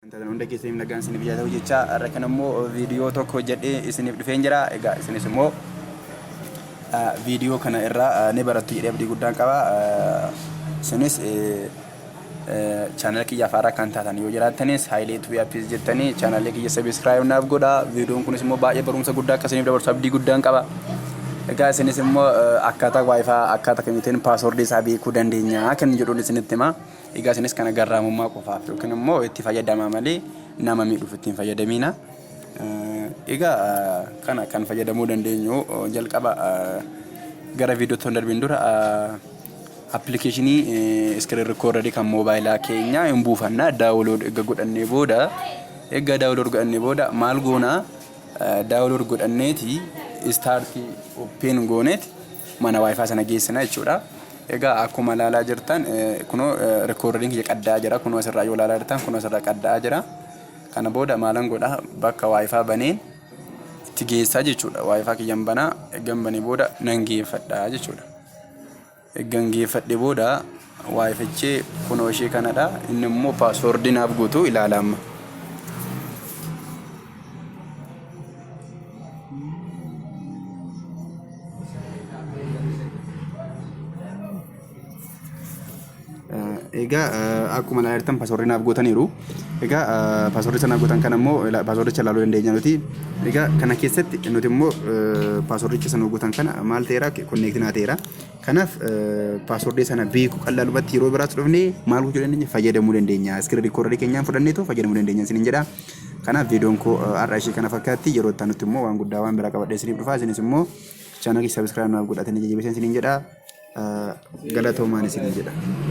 Wanta hunda keessaniif nagaan isiniif yaa ta'u jechaa har'a kan immoo viidiyoo tokko hojjedhee isiniif dhufeen jira. Egaa isinis immoo viidiyoo kana irraa ni barattu jedhee abdii guddaan qaba. Isinis chaanala kiyyaaf haaraa kan taatan yoo jiraattanis Haayilee Tuubii Appiis jettanii chaanalii kiyya sabiskiraayib naaf godhaa. Viidiyoon kunis immoo baay'ee barumsa guddaa akka isiniif dabarsu abdii guddaan qaba. Egaa isinis immoo akkaataa waayifaa akkaataa kamiitiin paaswordii isaa beekuu dandeenya kan jedhuun isinitti himaa. Egaa isinis kana garraamummaa qofaaf yookiin immoo itti fayyadamaa malee nama miidhuuf itti hin fayyadamiina. Egaa kana kan fayyadamuu dandeenyu jalqaba gara viidiyootti osoo hin darbiin dura appilikeeshinii iskiriin rikkoordarii kan moobaayilaa keenya hin buufanna daawulood erga godhannee booda erga daawulood godhannee booda maal goonaa Download godhanneeti start open gooneeti mana wifi sana geessina jechuudha. Egaa akkuma ilaalaa jirtan kunoo recording kiyya qaddaa jira kunoo asirraa yoo ilaalaa jirtan kunoo asirraa qaddaa jira. Kana booda maalan godha bakka wifi baneen itti geessaa jechuudha. Wifi kiyyan banaa eeggan banee booda nan geeffadha jechuudha. Ergan geeffadhe booda yfh kunoo ishee kanadha inni immoo paaswoordii naaf guutu ilaala amma. Egaa akkuma ilaalaa jirtan paaswoordii naaf guutaniiru. Egaa paaswoordii sana guutan kana immoo paaswoordicha ilaaluu dandeenya nuti. Egaa kana keessatti nuti immoo paaswoordicha sana guutan kana maal ta'eera konneektii naa ta'eera. Kanaaf paaswordii sana beeku qal'aalumatti yeroo biraatti dhufne maal gochuu dandeenya fayyadamuu dandeenya. Iskirri rikoodarii keenyaan fudhannee too fayyadamuu dandeenya isiniin jedha. Kanaaf viidiyoon koo har'a ishee kana fakkaatti yeroo itti aanutti immoo waan guddaa waan biraa qabadhee isiniif dhufa isinis immoo chaanalii sabiskiraayib naaf godhatanii jajjabeessan isiniin jedha. Galatoomaan isiniin jedha.